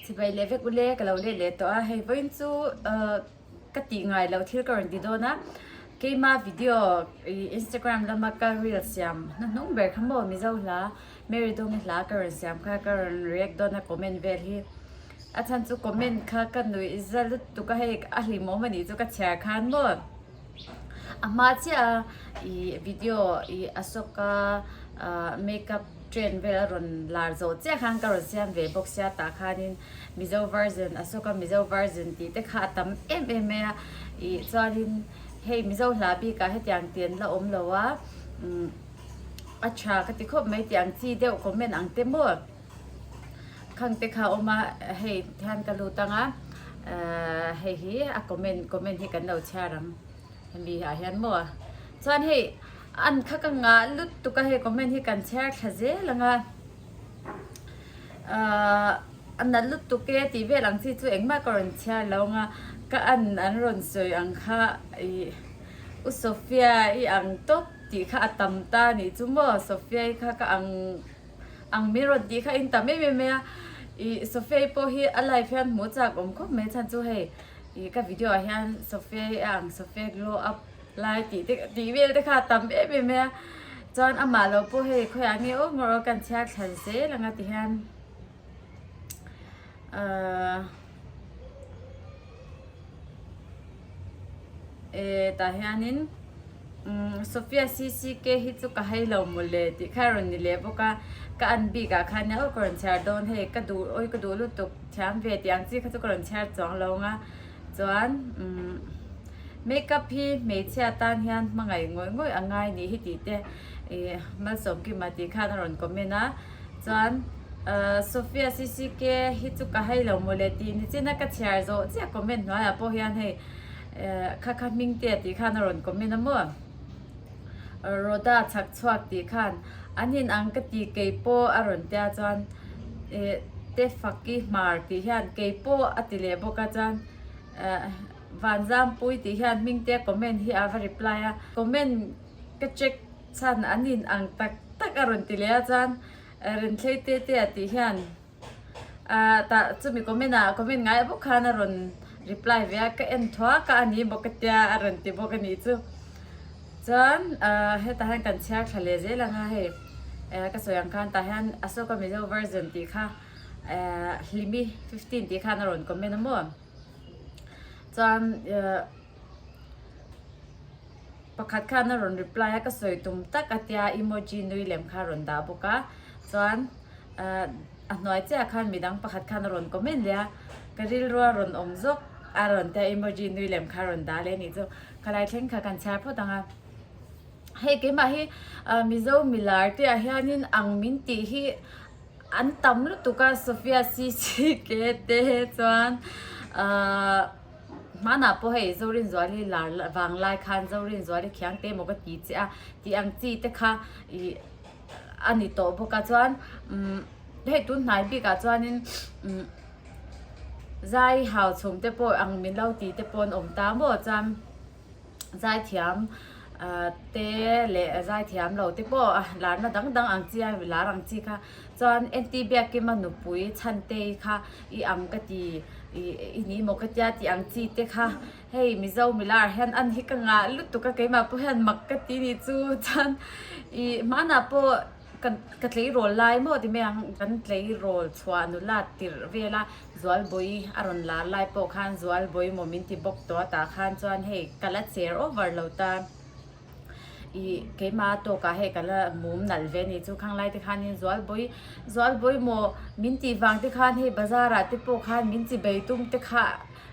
Chhibai leh vek ule ka lo let leh tawh a, hei vawiin chu ka tih ngai loh thil ka rawn ti dawn a, keima video Instagram lama ka reel siam hnu hnung ber kha maw Mizo hla, Marydong-i hla ka rawn siam kha ka rawn react dawn a comment vel hi, a chhan chu comment kha ka nuih za lut tuk a, hei a hlimawm anih chu ka chhiar khan maw. a hma chiaha i video i Asoka makeup trend vel a rawn lar zo chiah khan ka rawn siam ve bawk sia tah khanin Mizo version Asoka Mizo version tih te kha a tam em em mai a i chuanin hei Mizo hla bikah hetiang tian la awm lo a a tha ka ti khawp mai tiang chi deuh comment ang te maw Khangte kha a awm a, hei hian ka lut ang a, hei hi a comment comment hi kan lo chhiar ang hemi ah hian maw chuan hei an kha ka ngah lut tuk a hei comment hi kan chhiar thla zel ang a a nalh lut tuk e tih vel ang chi chu engmah ka rawn chhiar lo ang a ka an an rawn sawi ang kha ih u Sofia i ang tawp tih kha a tam ta nih chu maw Sofia i kha ka ang. Ang min rawn tih kha in tam em em a i Sofia-i pawh hi a live hian hmuh chak awm khawp mai chhan chu hei i ka video ah hian Sofia-i a ang Sofia glow up lai tih te tih vel te kha a tam em em a chuan amah lo pawh hei khawi ah nge awm rawh kan chhiar thlan zel anga ti hian uh Eh tah hianin umm Sofia CCK hi chu ka hei lo maw le tih kha a rawn ni leh bawk a, ka an bik ah khan auh ka rawn chhiar dawn hei ka duh awi ka duh lutuk thiam ve tih ang chi kha chu ka rawn chhiar chuang lo ang a, chuan umm makeup hi hmeichhia tan hian hmangaih ngawih ngawih a ngai nih hi tih te ih Malsawmkima tih khan a rawn comment a. Chuan Sofia CCK hi chu ka hei lo mawle tih nichina ka chhiar zawh chiah comment hnuaiah pawh hian hei kha kha hming te tih khan a rawn comment a maw. Rhoda chhak chhuak tih khan an in ang ka ti kei pawh a rawn tia chuan Tefaki hmar tih hian kei pawh a ti leh bawk a chuan Vanzampuii tih hian hming te comment hi a va reply a comment ka check Chhan an in ang tak tak a rawn ti leh a chuan Rinthlei tete a tih hian ah tah chumi comment ah comment ngai bawk khan a rawn reply ve a ka en thuak a a ni bawk a tia a rawn ti bawk a nih chu chuan ah hetah hian kan chhiar thla leh zel ang a hei eh ka sawi ang khan tah hian Asoka Mizo version tih kha eh Hlimi fifteen tih khan a rawn comment a maw chuan eh. pakhat khan a rawn reply a ka sawi tum tak a tia emoji nui lem kha a rawn dah bawk a chuan ahh a hnuai chiah khan mi dang pakhat khan a rawn comment leh a ka rilrua rawn awm zawk a rawn tia emoji nui lem kha a rawn dah leh a nih chu ka lai thleng kha kan chhiar phawt ang a hei keimah hi ahh mizo milar te ah hian in ang min tih hi an tam lutuk a sofia cc ke te chuan ahh Hmanah pawh hei Zorinzuali lar vang lai khan Zorinzuali khiang te emaw ka ti che a, tih ang chi te kha ih a ni tawh bawk a. Chuan umm hei tun hnai bik ah chuanin umm zai hau chhum te pawh ang min lo ti te pawh an awm ta maw chuan, zaithiam te leh zaithiam lo te pawh a lar na dang dang ang chi a lar ang chi kha chuan aunty biakin a nupui chhantei kha i ang ka ti i ni maw ka tia tih ang chi te kha hei mizo milar hian an hi ka ngah lutuk a keimah pawh hian mak ka ti ni chu chuan i hmanah pawh Ka tleirawl lai maw ti mai ang, kan tleirawl chhuah nu lat tirh vel a, Zualbawi a rawn lar lai pawh khan Zualbawi maw min ti bawk tawh a, tah khan chuan hei ka la cher over lo ta, i keima tawk ah hei ka la mum nalh ve a ni chu, Khanglai te khan in Zualbawi, Zualbawi maw min tih vang te khan hei bazar ah te pawh khan min chi bei tum te kha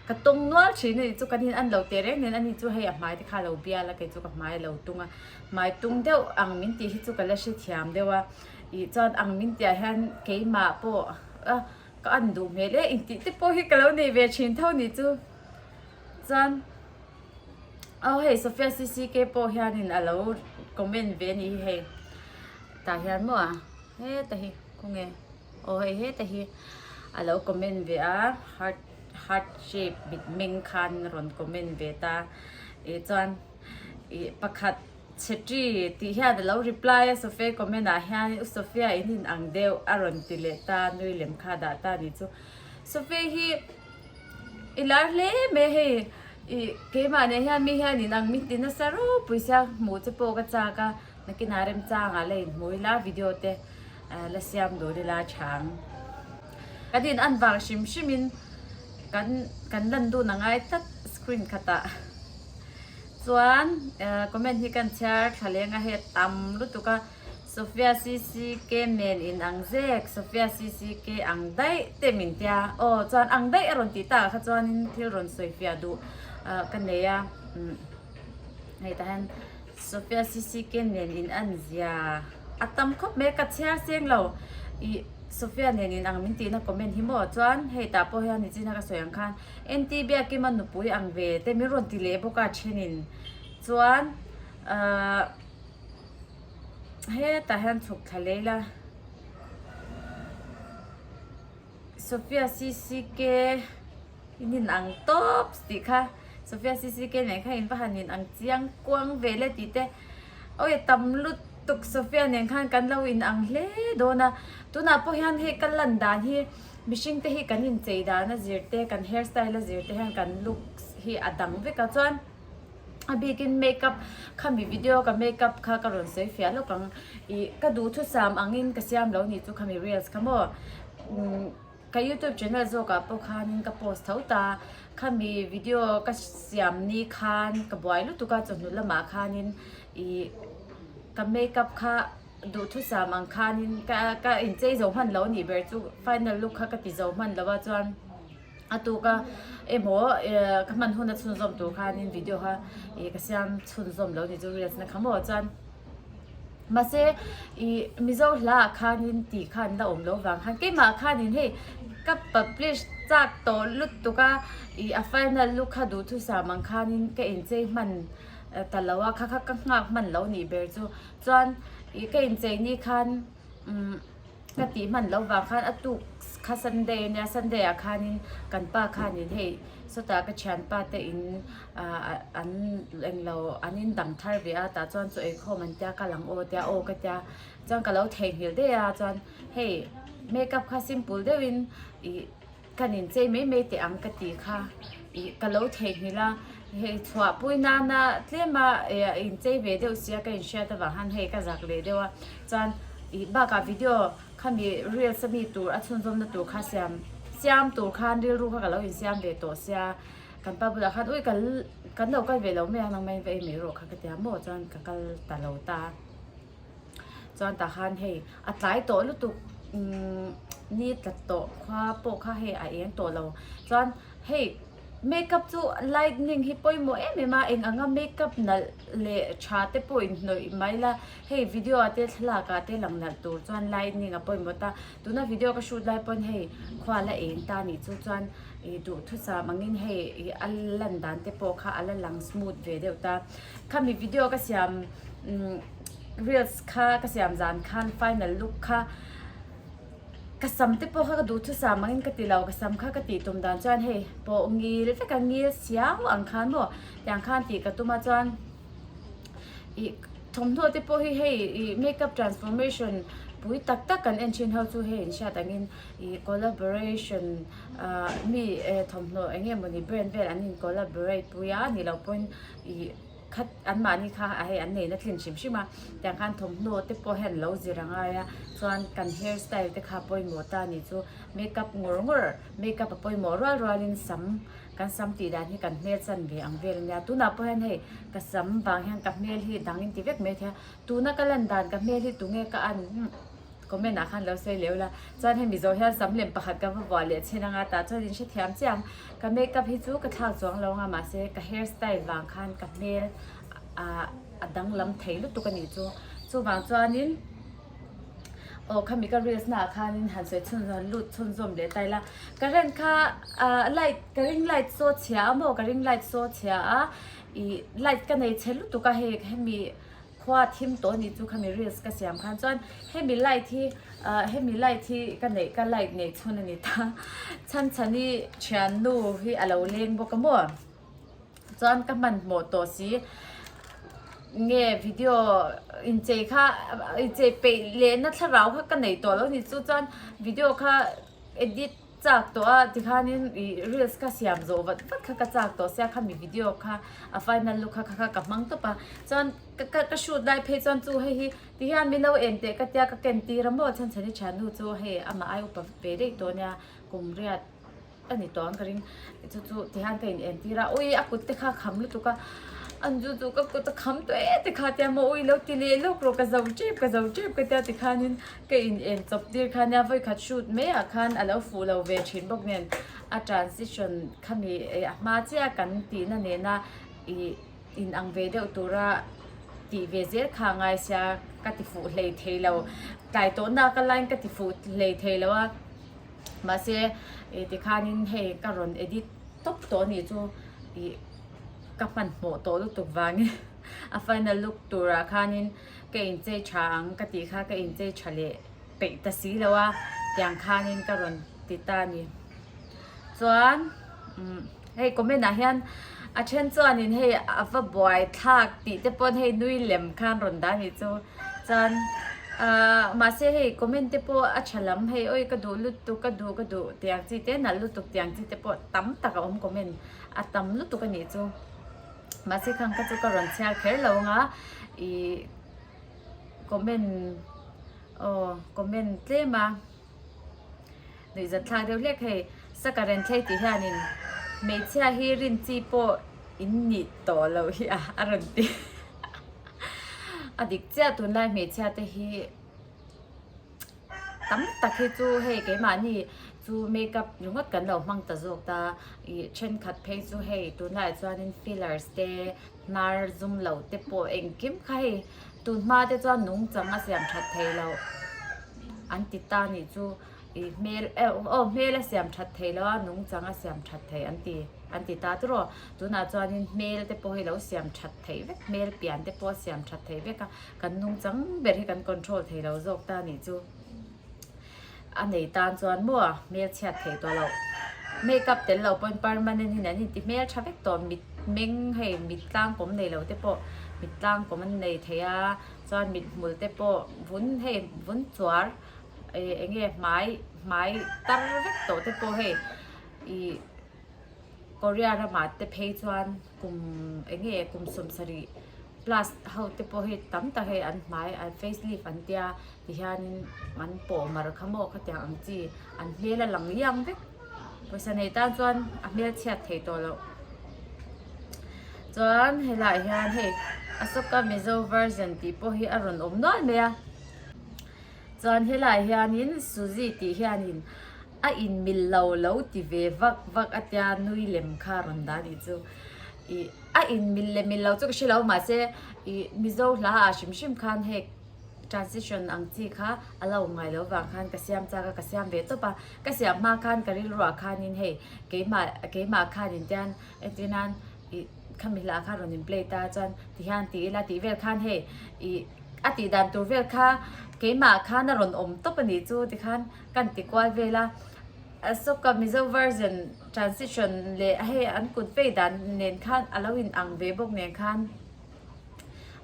ka tawng nual thin a ni chu, kan in an lo teh reng nen a ni chu hei a hmai te kha a lo bial a, kei chu ka hmai a lo tung a. Hmai tung deuh ang min tih hi chu ka la hrethiam deuh a, ih chuan ang min tih ah hian keimah pawh a ka an duh hmel e, intih te pawh hi ka lo nei ve thin tho ni chu. Chuan aw hei Sofia CCK pawh hianin a lo comment ve a ni hi hei, tah hian maw a heta hi khaw nge aw hei heta hi a lo comment ve a, heart heart shape mitmeng khan a rawn comment ve ta, ih chuan. Ih pakhat Chhetri tih hian a lo reply a Sofia-i comment ah hian U Sofia in in ang deuh a rawn ti leh ta nui lem kha dah ta ni chu Sofia hi i lar hle mai hei ih keimah neh hian mi hian in ang min ti nasa ropui sia hmuh te pawh ka chak a nakina remchang ah la in hmu ila video te la siam dun ila chhang. Kan in an vang hrim hrim in kan kan lan dun angai tlat screen khat ah chuan comment hi kan chhiar tha leng a het tam lutuk a Sofia ccc nen in ang zek Sofia ccc ang daih te min tia aw chuan ang daih a rawn tih tak ah kha chuan in thil rawn sawi fiah duh ka nei a hei ta hian Sophia CCK nen in an zia a tam khawp mai a ka chhiar cheng lo i Sophia nen in ang min tih na comment hi maw chuan hei tah pawh hian nichin a ka sawi ang khan NT biakim a nupui ang ve te min rawn ti leh bawk a thenin chuan ahh hetah hian chhuk thla lei la. Sofia CCK in in ang tawp tih kha Sofia CCK nen khan in va han in ang chiang kuang ve le tih te awi tam lut tuk Sofia nen khan kan lo in ang hle dawn a tunah pawh hian hei ka lan dan hi mihring te hi kan inchei dan a zir te kan hairstyle a zir te hian kan looks hi a dang vek a chuan a bikin make up khami video ka make up kha ka rawn sawi fiah lawk ang ih ka duhthusam angin ka siam lo ni chu khami reels kha maw umm ka youtube channel zawkah pawh khanin ka post tho ta khami video ka siam ni khan ka buai lutuk a chawhnu lamah khanin ih ka make up kha duhthusam ang khanin ka ka inchei zo hman lo a nih ber chu final look kha ka ti zo hman lo a chuan a tu ka emaw ka hman hun a chhun zawm tur khanin video ha ka siam chhun zawm lo ni chu reels na kha maw chuan mase i mizo hla khanin ti khan la awm lo vang khan keimah khanin hei ka publish chak tawh lut tuk a i a final lu kha duh thusam ang khanin ka inchei hman ta lo a kha kha ka nghak hman lo nih ber chu chuan i ka inchei ni khan Ka tih hman loh vang khan a tuk kha Sunday a nia. Sunday ah khanin kan pa khanin hei sawta ka thianpa te in an englo an indang thar ve a. Tah chuan chu eikhawm an tia ka lang aw tia aw ka tia. Chuan ka lo theihnghilh daih a chuan hei makeup kha simple deuhin ih-- Kan inchei mai mai teh ang ka tih kha ih ka lo theihnghilh a, hei chhuahpui nana tlema inchei ve deuh si a ka inhriat avang han hei ka zak leh deuh a, chuan ih bakah video khami reels ami tur a chhunzawmna tur kha siam siam tur khan rilru kha ka lo insiam ve tawh sia kan pa bulah khan ui kan kan lo kal ve lo mai a nangmah in va ei mai erawh kha ka tia maw chuan ka kal ta lo ta a. Chuan tah khan hei a tlai tawh lutuk ni tlat tawh kha pawh kha hei a eng tawh lo chuan hei makeup chu lightning hi pawimawh em em a eng ang a makeup nalh leh tha te pawh in hnawih mai la hei video ah te thlalak ah te lang nalh tur chuan lightning a pawimawh ta tuna video ka shoot lai pawn hei khua la eng ta nih chu chuan ih duhthusam ang in hei a lan dan te pawh kha a la lang smooth ve deuh ta khami video ka siam Reels kha ka siam zan khan final look kha ka sam te pawh kha ka duh thusam angin ka ti lo ka sam kha ka tih tum dan chuan hei pawh ngil veka ngil siau ang khan maw tiang khan tih ka tum a chuan ih thawmhnaw te pawh hi hei ih makeup transformation pui tak tak kan en thin ho chu hei an hriat angin ih collaboration ah mi eh thawmhnaw eng nge mawni brand vel an in collaborate pui a ni lo pawn ih-- Khat anmahni kha a hei an neina tlin hrim hrim a, tiang khan thawmhnaw te pawh hian lo zir a ngai a, chuan kan hair style te kha pawimawh ta ni chu makeup ngawr ngawr makeup a pawimawh rual rual in sam kan sam tih dan hi kan hmel chan ve ang vel a nia, tunah pawh hian hei ka sam vang hian ka hmel hi dang in ti vek mai a thei a, tuna ka lan dan ka hmel hi tunge ka an Comment ah khan lo sawi leh ula. Chuan hemi zawh hian sam lem pakhat ka va vuah leh chin anga tah chuan in hrethiam chiang. Ka makeup hi chu ka thlak chuang lo anga mahse ka hair style vang khan ka hmel a danglam thei lutuk a nih chu. Chuvang chuan in aw khami ka reels naah khan in han sawi chhun han lut chhun zawm leh ta ila. Ka rent kha light ka ring light saw chhia a maw ka ring light saw chhia a ih light ka nei chhe lutuk a hei hemi. Khua thim tawh ni chu khami reels ka siam khan chuan hemi light hi ah hemi light hi ka neih ka like neih chhun a ni ta chhanchhani thiannu hi a lo leng bawk a maw chuan ka hman hmawh tawh si nge video inchei kha inchei peih lehna thlarau kha ka neih tawh lo ni chu chuan video kha edit Chak tawh a ti khan in i reels kha siam zawh vat vat kha ka chak tawh sia khami video kha a final look kha kha ka hmang tawp a chuan ka ka shoot lai phei chuan chu hei hi ti hian milo en teh ka tia ka ken tir a maw chuan chhanichha nu chu hei amah ai upa ve daih tawh a nia kum riat a ni tawh ang ka ring chu chu ti hian ka in en tir a ui a kut te kha kham lutuk a an chu chu ka kut a kham tawh e ti kha tia maw ui lo ti leh lawk rawh ka zauh tep ka zauh tep ka tia ti khan in Ka in en chawp tir kha nia vawi khat shoot mai ah khan a lo fuh lo ve thin bawk nen a transition khami eh a hma chiah a kan tih na nen a ih in ang ve deuh tur a tih ve zel kha ngai sia ka ti fuh hlei thei lo tlai tawh na ka line ka ti fuh hlei thei lo a mahse eh tikhan in hei ka rawn edit tawp tawh a nih chu ih ka hman hmawh tawh lutuk vangin a final look tur ah khan in. Ka in chei tha ang ka tih kha ka in chei tha leh peih ta si lo a tiang khan in ka rawn ti ta a ni chuan umm hei comment ah hian a then chuan in hei a va buai thlak tih te pawn hei nui lem khan rawn dah a nih chu chuan ah mahse hei comment te pawh a tha lam hei awi ka duh lutuk ka duh ka duh tih ang chi te nalh lutuk tih ang chi te pawh tam tak a awm comment a tam lutuk a nih chu. mahse khan ka chu ka rawn chhiar kher lo ang a ih comment aw comment tlem a nuihzat thlak deuh hlek hei saka renthlei tih hianin hmeichhia hi rin chi pawh in nih tawh loh hi a a rawn ti a dik chiah tunlai hmeichhia te hi. tam tak hi chu hei keimahni chu makeup ringawt kan lo hmang ta zawk ta ih thenkhat phei chu hei tunah chuanin fillers te hnar zum loh te pawh engkim kha hei tun hma te chuan nung changa siam that thei loh an ti ta nih chu ih hmel oh oh hmel a siam that thei loh a nung changa siam that thei an ti an ti ta chu rawh tunah chuanin hmel te pawh hi lo siam that thei vek hmel pian te pawh a siam that thei vek a. Kan nung chang ber hi kan control thei lo zawk ta nih chu a nei tan chuan maw a hmelchhiat thei tawh loh makeup tel lo pawhin permanent in an inti hmel tha vek tawh mit meng hei mit tlangkawm nei lo te pawh mit tlangkawm an nei thei a chuan mit hmul te pawh vun hei vun chuar eng nge hmai hmai tar vek tawh te pawh hei ih-- Korea rama te phei chuan kum eng nge kum sawm sarih plus ho te pawh hi tam tak hei an hmai an face lift an tia ti hianin an pawh mar kha maw ka tiang ang chi an hmel a lang liang vek pawisa nei tan chuan a hmel chhiat thei tawh loh chuan he lah hian hei Asoka Mizo version tih pawh hi a rawn awm nual mai a chuan he lah hianin Suzy tih hianin a inmil lo lo ti ve vak vak atia nui lem kha a rawn dah anih chu ih a inmil leh mil lo chu ka hrelo mahse ih mizo hla ah hrim hrim khan hek transition ang chi kha a lo ngai lo vang khan ka siam chak a ka siam ve tawp a ka siam hma khan ka rilruah khan in hei keimah keimah khan in tian engtin nan ih khami hla kha rawn in play ta chuan ti hian ti ila tih vel khan hei ih a tih dan tur vel kha keimah khan a rawn awm tawp anih chu tikhan. Kan ti kual vel a, Asoka Mizo Version Transition leh hei an kut vei dan nen khan a lo inang ve bawk nen khan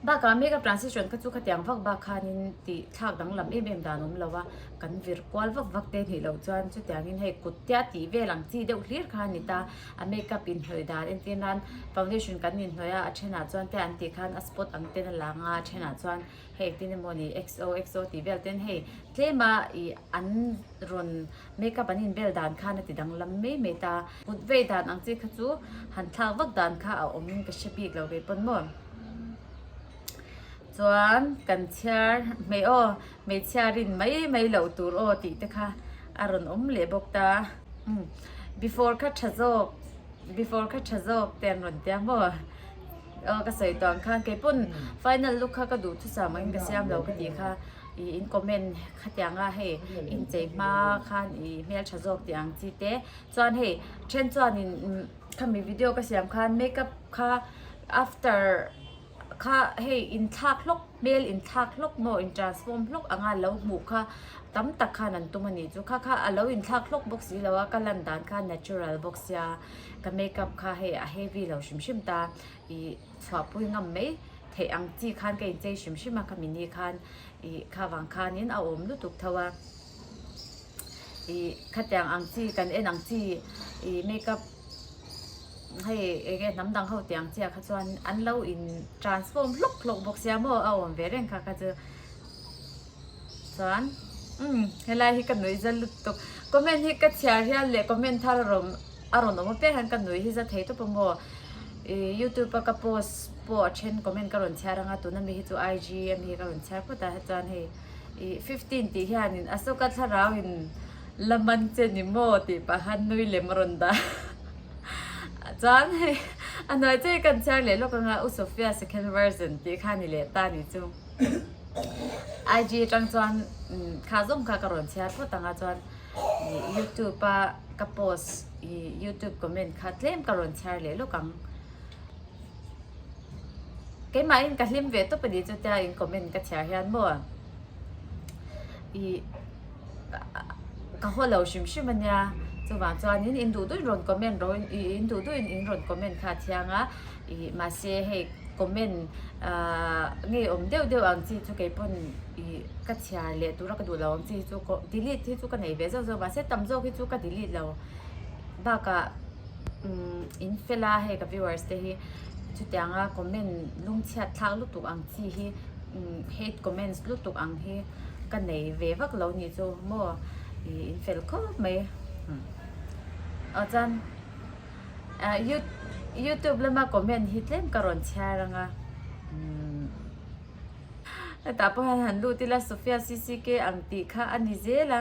bakah Mega Transition kha chu khatiang vak bak khanin tih thlak danglam em em dan awm lo a, kan vir kual vak vak te nih loh chuan chutiangin hei kut tia tih vel ang chi deuh hlir kha a ni ta, a makeup inhnawih dan entir nan foundation kan inhnawih a, a ṭhenah chuan te an tih khan a spot ang ten a lang a, a ṭhenah chuan. Hei tin emaw ni xoxo tih vel ten hei tlema i an rawn makeup an in bel dan khan a ti danglam mai mai ta kut vei dan ang chi kha chu han thlak vak dan kha a awm in ka hre bik lo ve pawn maw chuan kan chhiar hmei aw hmeichhia rin mai mai lo tur aw tih te kha a rawn awm leh bawk ta before kha tha zawk before kha tha zawk te an rawn tia maw. Ka sawi tawn khan kei pawn final look kha ka duhthusam angin ka siam lo ka tih kha i in comment khatiang a hei inchei hma khan i hmel tha zawk tih ang chi te chuan hei then chuanin khami video ka siam khan makeup kha after kha hei in thlak hlawk hmel in thlak hlawk maw in transform hlawk anga lo hmuh kha tam tak khan an tum a nih chu kha kha a lo in thlak hlawk bawk si lo a ka lan dan kha natural bawk sia. ka makeup kha hei a heavy lo hrim hrim ta ih chhuahpui ngam mai theih ang chi khan ka inchei hrim hrim a ka mini khan ih kha vang khanin a awm lutuk tho a ih khatiang ang chi kan en ang chi ih makeup hei eng nge hnam dang ho teh ang chiah kha chuan an lo in transform hlawk hlawk bawk sia maw a awm ve reng kha kha chu. Chuan umm helai hi ka nui zal lutuk comment hi ka chhiar hial leh comment thar a rawn a rawn awm apiang hian ka nui hi za thei tawp a maw ih youtube a ka post pawh a then comment ka rawn chhiar anga tuna mi hi chu IG a mi hi ka rawn chhiar phut a chuan hei ih fifteen tih hian in Asoka thlarau in la man che ni maw tih pah khan nui lem a rawn dah chuan hei a hnuai chu hi ka rawn chhiar leh lawk anga u Sofia second version tih kha ni leh ta ni chung. IG atang chuan thla zawng kha ka rawn chhiar phawt ang a chuan youtube a ka post youtube comment kha tlem ka rawn chhiar leh lawk ang keimah in ka hlim ve tawp a ni chutia in comment ka chhiar hian maw i ka haw lo hrim hrim ania chuvang chuanin in duh duih in rawn comment ro in duh duih in rawn comment kha a thiang a ih mahse hei comment ahh ngeiawm deuh deuh ang chi chu keipawn ih ka chhiar leh tura ka duh lo ang chi chu delete hi chu ka nei ve zauh zauh mahse tam zawk hi chu ka delete lo bakah umm in fill a hei ka viewers te hi. chutianga comment lungchhiat thlak lutuk ang chi hi hate comments lutuk ang hi ka nei ve vak lo ni chu maw ih in fel khawp mai a chuan you youtube lama comment hi tlem ka rawn chhiar anga hetah pawh hian han lut ila sofia ccka ang tih kha a ni zel a.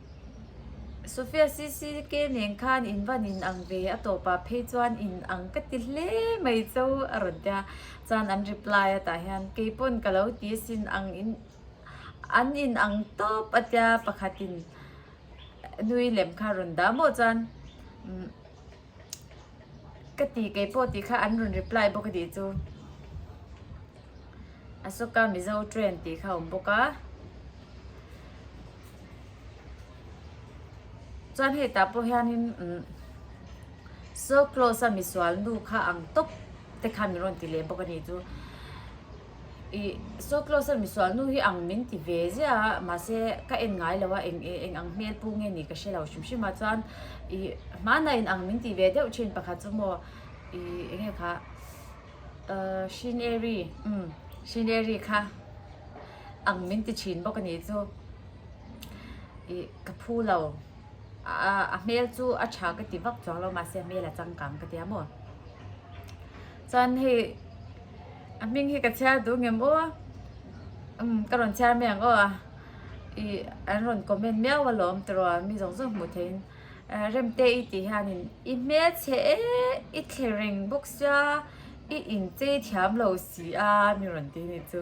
Sofia CCK nen khan in van in ang ve a tawpah phei chuan in ang ka ti hle mai chu a rawn tia chuan an reply a tah hian kei pawn ka lo ti asin ang in an in ang tawp a tia pakhat in nui lem kha a rawn dah maw chuan umm. Ka ti kei pawh tih kha an rawn reply bawk a tih chu. Asoka Mizo Train tih kha a awm bawk a. Chuan hei tah pawh hianin umm so close a misual nu kha ang tawp te kha min rawn ti leh bawk a ni chu. i saw close a misual nu hi ang min ti ve zia mahse ka en ngai lo a eng e eng ang hmel pu nge ni ka hre lo hrim hrim a chuan i hmanah in ang min ti ve deuh thin pakhat chu maw i eng nge kha ahh hrineri imm hrineri kha ang min ti thin bawk a nih chu i ka phu lo ahh a hmel chu a tha ka ti vak chuang lo mahse a hmel a changkang ka tia maw chuan hei A hming hi ka chhiar duh ngem aw a, umm ka rawn chhiar mai ang aw a, ih an rawn comment miau alawm tiraw mi zawng zawng hmuh theihin Remte i tih hianin i hmelse e i thlereng bawk sia i inchei thiam lo si a mi rawn ti ni chu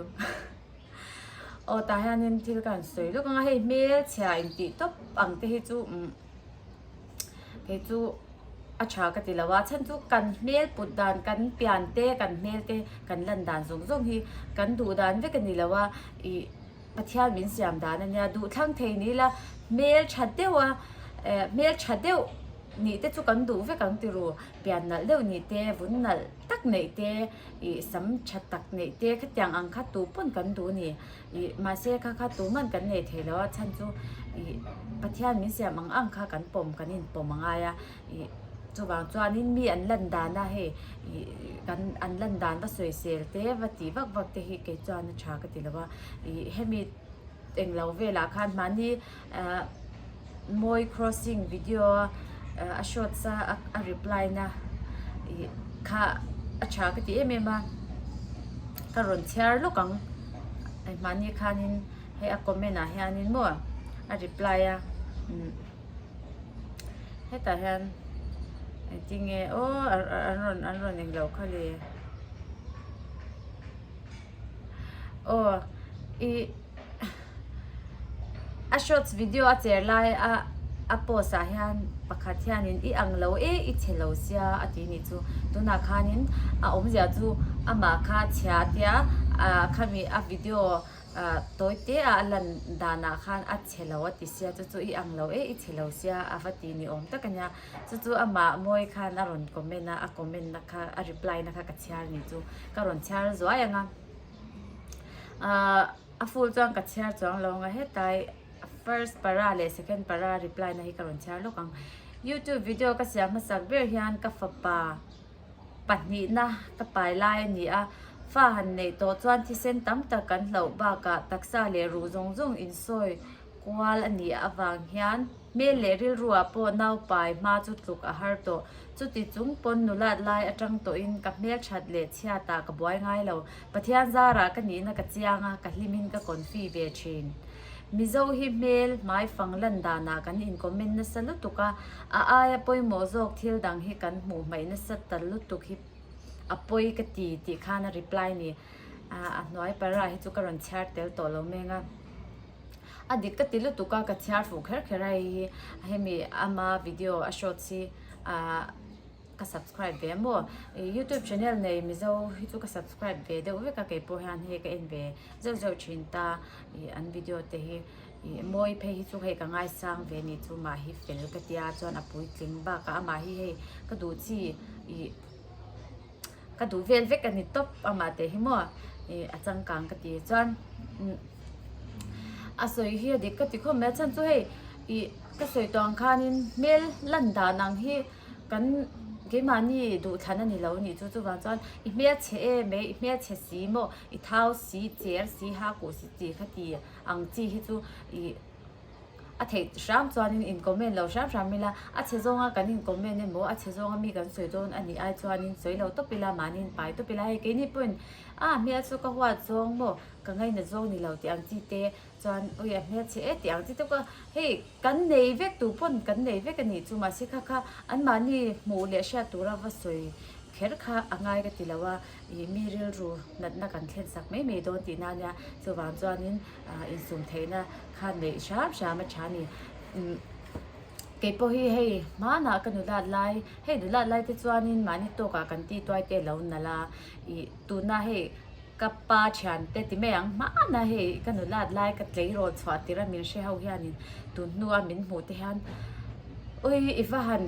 aw tah hianin thil ka rawn sawi lawk ang a hei hmelchhia intih tawp ang te hi chu umm. kei chu a tha ka ti lo a chhan chu kan hmel put dan kan pian te kan hmel te kan lan dan zawng zawng hi kan duh dan vek a ni lo a ih pathian min siam dan a nia duhthlang thei ni ila hmel tha deuh a eh hmel tha deuh ni te chu kan duh vek ang ti ru pian nalh deuh ni te vun nalh tak neih te ih sam tha tak neih te khatiang ang kha tu pawn kan duh a ni. ih mahse kha kha tû ngan kan nei thei lo a chhan chu ih pathian min siam ang ang kha kan pawm kan inpawm a ngai a ih chuvang chuanin mi an lan dan a hei ih kan an lan dan va sawi sel te va ti vak vak te hi kei chuan a ṭha ka ti lo a ih hemi englo velah khan mahni-- Mawi crossing video a shot sa a reply na kha a tha ka ti em em a ka rawn chhiar lawk ang ai mahni khan in hei a comment ah hian in maw a reply a hetah hian I think nge aw an rawn englo kha le. aw i a shorts video a cher lai a a post ah hian pakhat hianin i ang lo e i chhe lo sia a ti ni chu tunah khanin a awmzia chu amah kha a chhia a tia ah khami a video ah tawi te a a lan danah khan a chhe lo a ti sia chu chu i ang lo e i chhe lo sia a va ti ni awm tak a nia. chu chu amah mawi khan a rawn comment a a comment na kha a reply na kha ka chhiar ni chu ka rawn chhiar zuai ang a ahh a full chuan ka chhiar chuang lo ang a hetlai first para leh second para reply na hi ka rawn chhiar lawk ang youtube video ka siam hmasak ber hian ka fapa pahnih na ka pai lai a ni a fa han neih tawh chuan thisen tam tak kan hloh bakah taksa leh ruh zawng zawng insawi Kual a nih avang hian hmel leh rilruah pawh naupai hma chu tluk a har tawh. Chuti chung pawn nulat lai atang tawhin ka hmelthat leh chhiatah ka buai ngai lo. Pathian zarah ka nihna ka chiang a, ka hlimin ka konfi ve thin. Mizo hi hmel hmai fang lan danah kan incommend nasa lutuk a, a aia pawimawh zawk thil dang hi kan hmuh hmaih nasa tal lutuk hi a pawi ka ti tih khan a reply ni. A hnuai parah hi chu ka rawn chhiar tel tawh lo meng a. a dik ka ti lutuk a ka chhiar fuh kher kher a hei hi hemi ama video a shorts hi ahh ka subscribe ve a maw youtube channel nei mizo hi chu ka subscribe ve deuh vek a kei pawh hian hei ka en ve zeuh zeuh thin ta ih an video te hi ih mawi phei hi chu hei ka ngaisang ve ni chu mah hi fel ka tia chuan a puitling bak a amah hi hei ka duh chi ih. Ka duh vel vek a ni tawp a mah teh hi maw i a changkang ka ti chuan a sawi hi a dik ka ti khawp mai a chhan chu hei i ka sawi tawh ang khanin hmel lan dan ang hi kan keimahni duhthlan a ni lo nih chu chuvang chuan i hmelchhe em e i hmelchhe si maw i thau si cher si hakuh si chi kha ti ang chi hi chu i. A theih hram chuanin in comment lo hram hram ila, a chhe zawnga kan in comment emaw a chhe zawnga mi kan sawi dawn a nih ai chuanin sawi lo tawp ila mahniin pai tawp ila. Hei keini pawhin a hmel chu ka huat zawng maw ka ngaina zawng ni lo tih ang chi te chuan ui a hmel chhe e tih ang chi te pawh hei kan nei vek tur pawn kan nei vek a nih chu mahse kha kha anmahni hmuh leh hriat tura va sawi kher kha a ngai ka ti lo a. ih mi rilru natna kan thlen sak mai mai dawn tih nan nia chuvang chuanin ah insum theihna khan neih hram hram a tha a ni umm keipawh hi hei hmanah ka nulat lai hei nulat lai te chuanin mahni tawk ah kan tituai te lo nalh a ih tuna hei ka pa thian te ti mai ang hmana hei ka nulat lai ka tleirawl chhuah tir a min hre ho hianin tun hnua min hmuh te hian ui i va han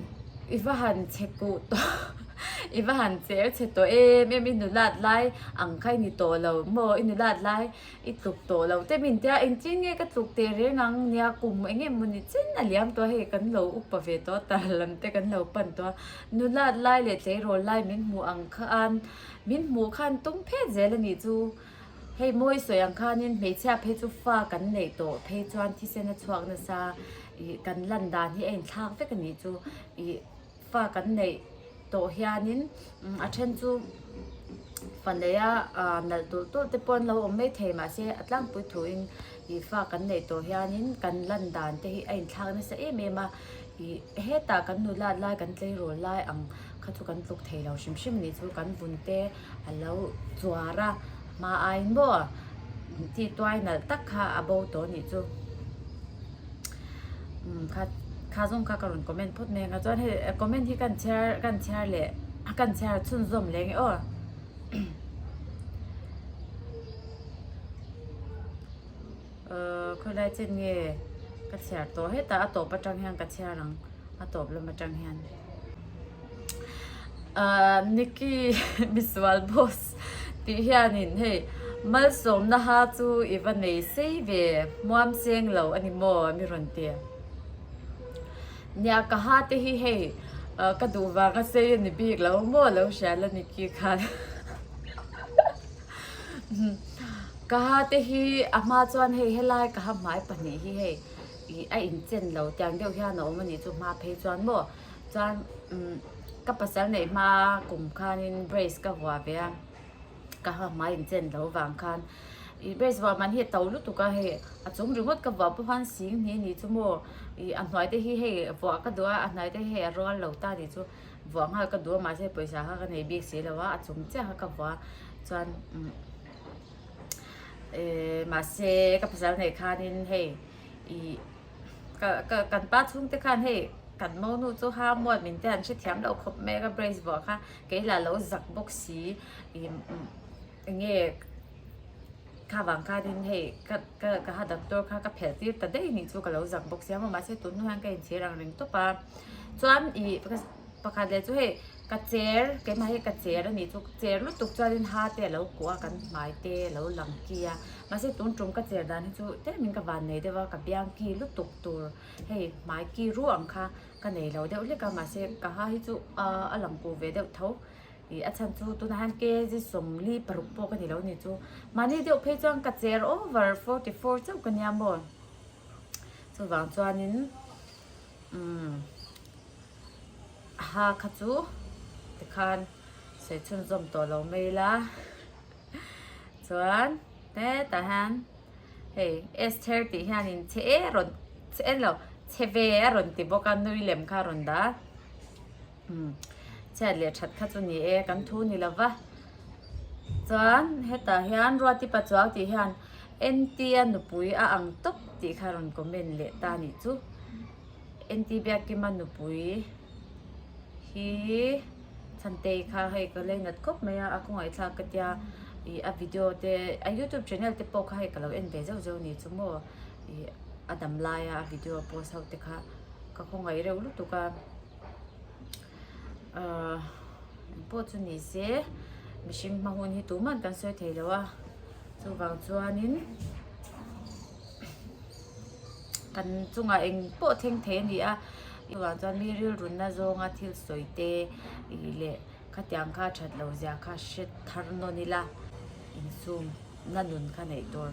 i va han chhe kuh tawh. I va han cher chhe tawh em em i nu lat lai ang kha i ni tawh lo maw i nu lat lai i tluk tawh lo te min tia engtin nge ka tluk teh reng ang nia kum eng nge mawni chin a liam tawh a hei kan lo upa ve tawh a tar lam te kan lo pan tawh a nu lat lai leh tleirawl lai min hmuh ang kha an min hmuh khan tum phet zel a nih chu hei mawi sawi ang khan in hmeichhia phei chu fa kan neih tawh phei chuan thisen a chhuak nasa i kan lan dan hi a in thlak vek a nih chu ih. Pa kan neih tawh hianin a then chu Faneia nalh tulh tulh te pawh an lo awm mai thei mahse a tlangpui thuin ih fa kan neih tawh hianin kan lan dan te hi a inthlak nasa em em a ih hetah kan nu lat lai kan tleirawl lai ang kha chu kan tluk theilo hrim hrim a nih chu kan vun te a lo chuar a hma aiin maw tituai nalh tak kha a bo tawh a nih chu. kha zawng kha ka rawn comment phawt mai anga chuan hei comment hi ka rawn share ka rawn share leh ka rawn share chhunzawm leh ang e aw khawilai chen nge ka share tawh hetah a tawp aṭang hian ka share ang a tawp lam aṭang hian. Nicky misual boss tih hianin hei malsawmna ha chu i va nei sei ve hmuam seng lo a ni maw mi rawn ti a nia ka ha te hi hei ka duh vang a sei a ni bik lo maw lo hria la Nicky khan ka ha te hi a hma chuan hei helai ka ha hmai pahnih hi hei a inchen lo tiang deuh hian a awm a nih chu hma phei chuan maw. chuan ka pasal neih hma kum khanin brace ka vuah ve a ka ha hmai in chen loh vang khan ih brace vuah man hi a to lutuk a hei a chung ringawt ka vuah pawh khan sing hni a nih chu maw ih a hnuai te hi hei vuah ka duh a a hnuai te hi hei a rual lo ta nih chu vuah nghal ka duh a mahse pawisa kha ka nei bik si lo a a chung chiah kha ka vuah a chuan mahse ka pasal neih khanin hei ih Kan pa chhung te khan hei kan mo nu chu ha muat min te an hre thiam lo khawp mai a ka brace vuah kha kei lah lo zak bawk si enge kha vang khan in hei ka ha doctor kha ka phelh tir ta daih anih chu ka lo zak bawk si a mahse tunah hian ka inthlir ang ringtawp a chuan i-- pakhat leh chu hei ka chair keimah hi ka chair a nih chu ka chair lutuk chuanin hate a lo kuah a kan hmai te a lo lang ki a mahse tun tum ka chair dan hi chu tlaimin ka van nei deuh a ka biang ki lutuk tur hei hmai ki ruah ang kha ka nei lo deuh hlek a mahse ka ha hi chu ahh a lang ku ve deuh tho ih a chhan chu tunah hian K G sawmli paruk pawh ka ni lo ni chu mahni deuh phei chuan ka chair over forty four chauh ka nia maw chuvang chuanin. Umm ha kha chu tikhan sawichhun zawm tawh lo mai la chuan hetah hian hei Esther tih hianin chhe e rawn chhe e nilo chhe ve a rawn ti bawk a nui lem kha a rawn dah a. um chhiat leh that kha chu ni e kan thu ni lo va chuan hetah hian ruatipa chuau tih hian entia nupui a ang tawp tih kha rawn comment leh ta nih chu enti biakima nupui hi chantei kha hei ka lei nat khawp mai a a kawngah thlak ka tia i a video te a youtube channel te pawh kha hei ka lo en ve zeuh zeuh ni chu maw i a dam laia a video post ho te kha ka khawngaih reuh lutuk a ahh pawh chu ni se mihring hma hun hi tuman kan sawi thei lo a chuvang chuanin kan chungah eng pawh thleng thei a ni a chuvang chuan mi rilrunna zawnga thil sawi te leh khatiang kha that lo ziah kha hre thar nawlh ila insum na nun kha neih tur.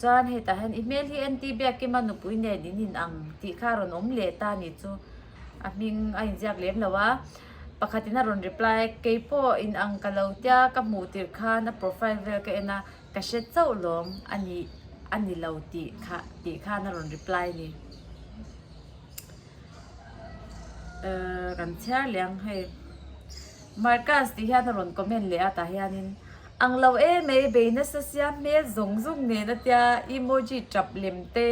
Chuan hetah hian, I hmel hi NT biakim a nupui nen in inang tih kha rawn awm leh ta ni chu, a hming a inziak lem lo a. Pakhatin a rawn reply a, Keipawh inang ka lo tia ka hmuh tirh khan a profile vel ka en a, ka hre chauh lawm a ni a ni lo tih kha tih khan a rawn reply a ni. kan chhiar leh ang hei markaz tih hian a rawn comment leh a tah hian in ang lo e mai bei nasa siam hmel zawng zawng nen atia emoji tap lem te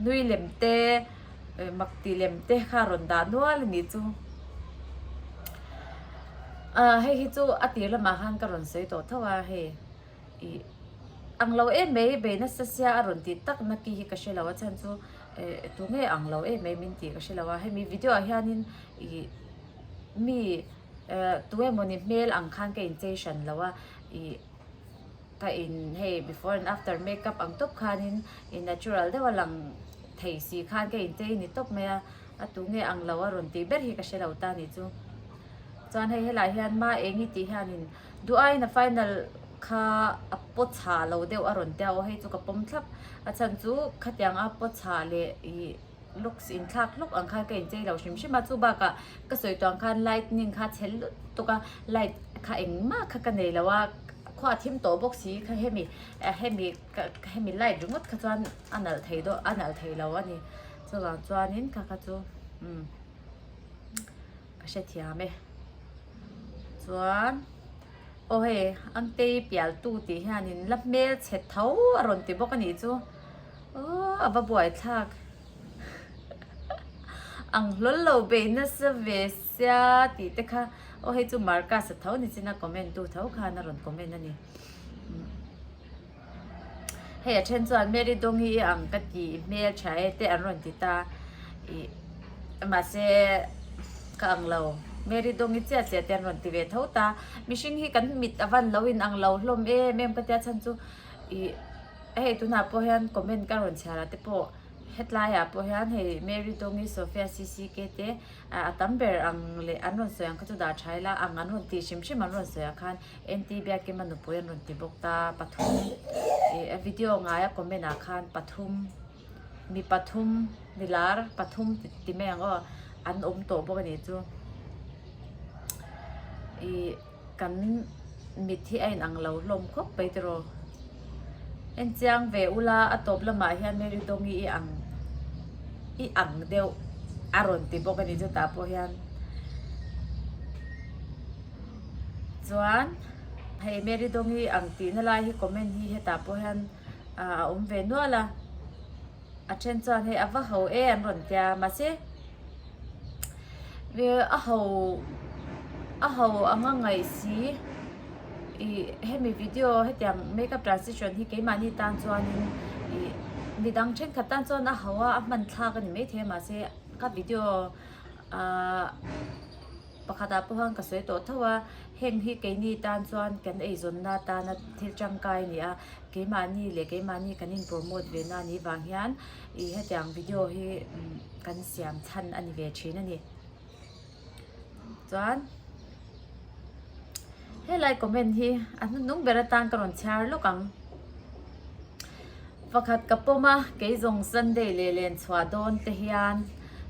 nui lem te mak ti lem te kha a rawn dah nual a nih chu a hei hi chu a tir lamah khan ka rawn sawi tawh tho a hei. i ang lo em mai bei nasa sia a rawn tih tak naki hi ka hre lo a chhan chu ih tu nge ang lo em mai min tih ka hre lo a hemi video ah hian in ih mi eh tu emaw ni hmel ang khan ka inchei hran lo a ih ka in hei before and after makeup ang tawp khan in i natural deuh a lang thei si khan ka inchei ni tawp mai a a tu nge ang lo a rawn tih ber hi ka hre lo ta ni chu chuan hei helai hian ma eng i tih hian in. Duaina final kha a paw chha lo deuh a rawn tia aw hei chu ka pawm thlap a chhan chu khatiang a paw chha leh ih looks in thlak hlawk ang khan ka in chei lo hrim hrim a chubak ah ka sawi tuang khan lightning kha chhel lut tuk a light kha eng mah kha ka nei lo a khuaa thim tawh bawk si kha hemi ah hemi ka hemi light ringawt kha chuan a nalh thei dawh a nalh thei lo a ni chuvang chuan in ka kha chu umm. ka hrethiam e chuan aw hei angtei pial tu tih hianin la hmel chhet tho a rawn ti bawk a nih chu aw a va buaithlak ang hlawl lo beih nasa ve sia tih te kha aw hei chu Marcus a tho ni chin a comment tu tho khan a rawn comment a ni. Hei a then chuan Mary Dongi i ang ka ti hmel tha e te an rawn ti ta. Ih mahse ka ang lo, Mary Dongi chiah chiah te an rawn ti ve tho ta. Mihring hi kan mit a van lo in ang lo hlawm em em ka tia chhan chu. Ih hei tunah pawh hian comment ka rawn chhiar ah te pawh hetlai ah pawh hian hei Mary Dongi, Sofia CCK te a tam ber ang leh an rawn sawi ang kha chu dah tha ila ang an rawn ti hrim hrim an rawn sawi ah khan. Engti biak ema nupui an rawn ti bawk ta pathum ih video a ngai a comment ah khan pathum mi pathum milar pathum ti mai ang aw an awm tawh bawk a nih chu ih kan mit hi a inang lo hlawm khawp mai te rawh engchiang ve ula a tawp lamah hian Mary Dongi i ang i ang deuh a rawn ti bawk a nih chu tah pawh hian. chuan hei mary dawng hi ang tihna lai hi comment hi hetah pawh hian a awm ve nual a a then chuan hei a va ho e an rawn tia mahse a ho a ho anga ngaih si ih hemi video hetiang makeup transition hi keimahni tan chuanin ih mi dang thenkhat tan chuan a ho a a hmanthlak a ni maithei mahse ka video ahh Pakhatah pawh khan ka sawi tawh tho a, heng hi keini tan chuan kan eizawnna atana thil tangkai a ni a, keimahni leh keimahni kan inpromote ve na ni vang hian ih hetiang video hi kan siam chhan a ni ve thin a ni. Chuan helai comment hi a hnunhnung ber atan ka rawn chhiar lawk ang. Pakhat ka pawm a, kei zawng Sunday leh len chhuah dawn te hian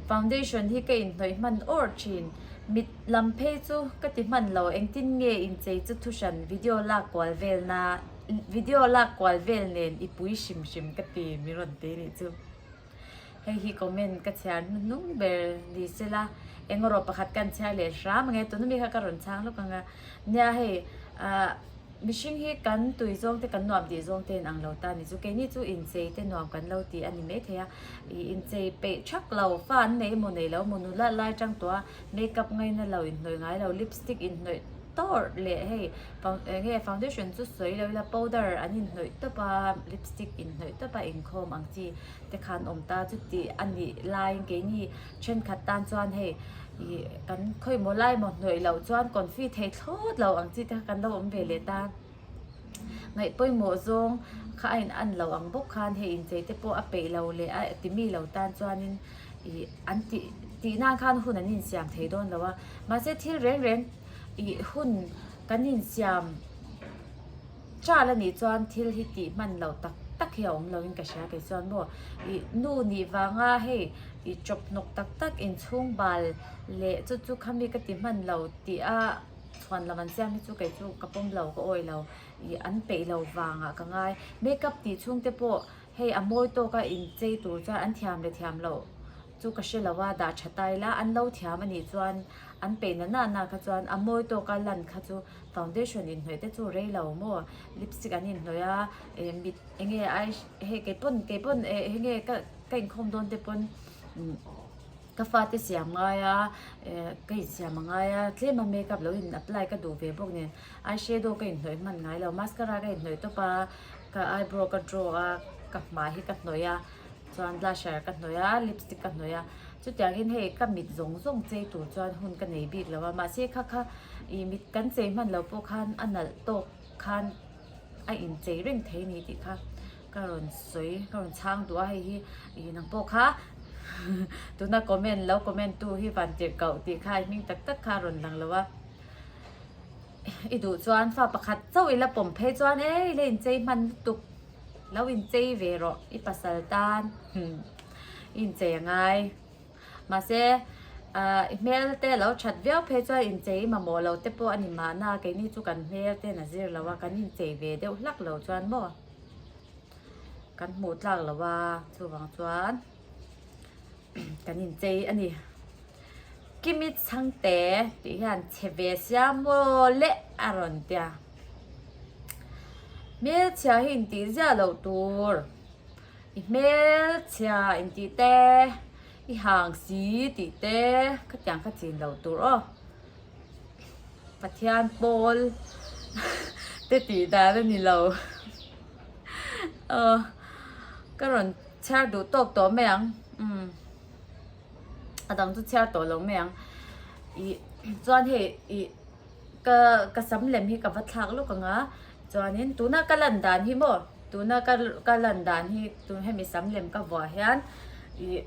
foundation hi ka inhnawih hman awrh thin. Mit lam phei chu ka ti hman lo, engtin nge inchei chu thu hran video lak kual vel na video lak kual vel nen i pui hrim hrim ka ti min rawn ti nih chu. hei hi comment ka chhiar hnu hnu ber ni se la engemaw pakhat kan chhiar leh hram ang e tuna mi kha ka rawn chhang lawk ang a nia hei ah mihring hi kan tui zawng te kan nuam tih zawng te in ang lo ta ni chu kei ni chu inchei te nuam kan lo ti a ni maithei a ih inchei peih thak lo fa an nei emaw nei lo munu la lai tang tawh a. makeup ngaina lo inhnawih ngai lo lipstick inhnawih tawrh leh hei fau eng nge foundation chu sawi lo ila powder an inhnawih tawp a lipstick inhnawih tawp a inkhawm ang chi te khan awm ta chuti a nih lai keini thenkhat tan chuan hei ih kan khawimawh lai maw hnawih loh chuan confuse thei thlawt lo ang chi te kha kan lo awm ve leh ta. Ngaih pawimawh zawng kha a in an lo ang bawk khan hei inchei te pawh a peih lo leh a ti mi lo tan chuanin ih an ti tih nan khan hun an insiam thei dawn lo a mahse thil reng reng ih hun kan insiam tah la nih chuan thil hi tih hman lo tak tak hi a awm lo in ka hria kei chuan maw ih nu nih vanga hei ih chawp hnawk tak tak inchhung bal leh chu chu kha mi ka ti hman lo tih a. Chhuan lo an siam hi chu kei chu ka pawm lo ka awi lo ih an peih lo vangah ka ngai makeup tih chhung te pawh hei a mawi tawk a in chei tur chuan an thiam leh thiam loh chu ka hre lo a dah tha ta ila an lo thiam anih chuan an peih na na na kha chuan a mawi tawk a lan kha chu foundation in hnawih te chu rei lo maw lipstick an in hnawih a eh mit eng nge ai hei kei pawn kei pawn eh eng nge ka ka inkhawm dawn te pawn umm. Ka fate siam ngai a, ka insiam a ngai a, tlem a makeup lo in apply ka duh ve bawk nen eye shadow ka inhnawih hman ngai lo, mascara ka inhnawih tawp a, ka eyebrow ka draw a, ka hmai hi ka hnawih a, chuan blusher ka hnawih a, lipstick ka hnawih a, chutiangin hei ka mit zawng zawng chei tur chuan hun ka nei bik lo a, mahse kha kha ih mit kan chei hman lo pawh khan a nalh tawk khan a inchei reng thei a ni tih kha. ka rawn sawi ka rawn chhang duh a hei hi ih nang pawh kha tuna comment lo comment tu hi vantirhkoh tih kha i hming tak tak kha a rawn lang lo a i duh chuan fa pakhat chauh ila pawm phei chuan ei la inchei hman lutuk lo inchei ve rawh i pasal tan hm i inchei a ngai mahse ah i hmel te lo that viau phei chuan inchei i mamawh lo te pawh a ni mahna keini chu kan hmel ten a zir lo a kan inchei ve deuh hlak lo chuan maw. kan hmuh tlak lo va chuvang chuan kan in chei a ni kimi changte tih hian chhe ve sia maw le a rawn ti a hmelchhia hi in tih ziah lo tur i hmelchhia in tih te i hang si tih te khatiang kha chin lo tur aw. Pathian pawl te tih dan a ni lo. Aw ka rawn chhiar duh tawk tawh mai ang. Umm a dang chu chhiar tawh lo mai ang. Ih chuan hei ih ka ka sam lem hi ka va thlak lawk ang a. Chuanin tuna ka lan dan hi maw, tuna ka ka lan dan hi tun hemi sam lem ka vua hian ih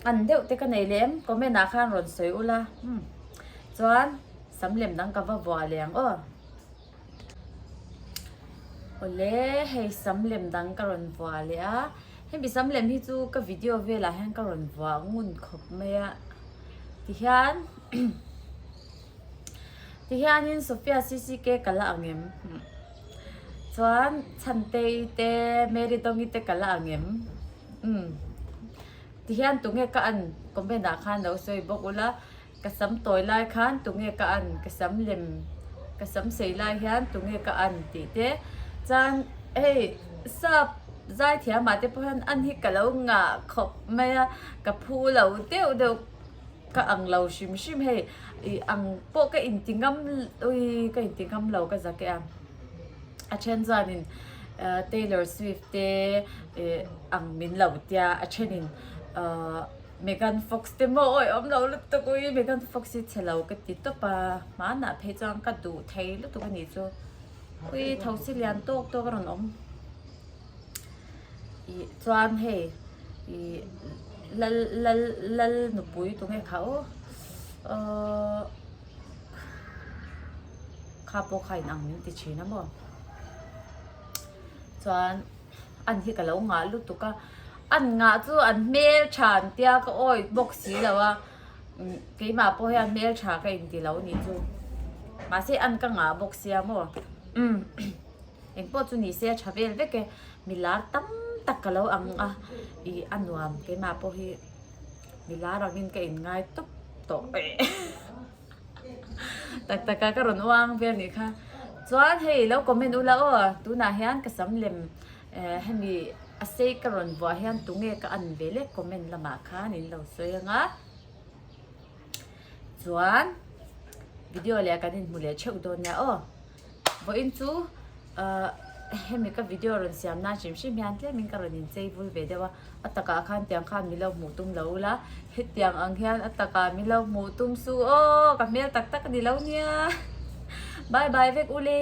an deuh te ka nei leh em comment ah khan rawn sawi ula hum chuan sam lem dang ka va vua leh ang aw awle hei sam lem dang ka rawn vua leh a hemi sam lem hi chu ka video velah hian ka rawn vua ngun khawp mai a ti hian Tihianin Sofia CCK ka la ang em? Chuan Chhantei te Mary Tongi te ka la ang em? Umm. Tihian tunge ka an? Comment ah khan lo sawi bawk ula, ka sam tawi lai khan tunge ka an? Ka sam lem, ka sam sei lai hian tunge ka an? tih te. Chuan hei Sap Zaithiama te pawh hian an hi ka lo ngah khawp mai a, ka phu lo deuh deuh. Ka ang lo hrim hrim hei i ang pawh ka inti ngam ui ka inti ngam lo ka zak e ang a then chuanin Taylor Swift te ang min lo tia a thenin Megan Fox te maw awi awm lo lutuk ui Megan Fox hi chhe lo ka ti tawp a hmanah phei chuan ka duh thei lutuk a nih chu ui thosi lian tawk tawk a rawn awm. ih chuan hei ih lal lal lal nupui tu nge kha oh aw kha pawh kha inang min ti thin a maw chuan an hi ka lo ngah lutuk a an ngah chu an hmel tha an tia ka awih bawk si lo a keimah pawh hian hmel tha ka inti lo ni chu mahse an ka ngah bawk sia maw Eng pawh chu nise a tha vel vek e. Mi lar tam tak ka lo ang a. I a nuam keimah pawh hi mi lar angin ka in ngai tawp tawh e. Tak tak a ka rawn uang vel ni kha. Chuan hei lo comment u la aw. Tunah hian ka sam lem eh hemi a sei ka rawn vuah hian tunge ka an ve lek comment lamah khan in lo sawi ang a. Chuan video leh ah kan inhmu leh theuh dawn nia aw. Vawiin chu hemi ka video rawn siam nan hrim hrim hian tlem in ka rawn in chei vul ve deuh a, a takah khan tiang khan milo hmuh tum lo la, hetiang ang hian a takah milo hmuh tum su aw ka hmel tak tak a ni lo nia bye bye vek ule.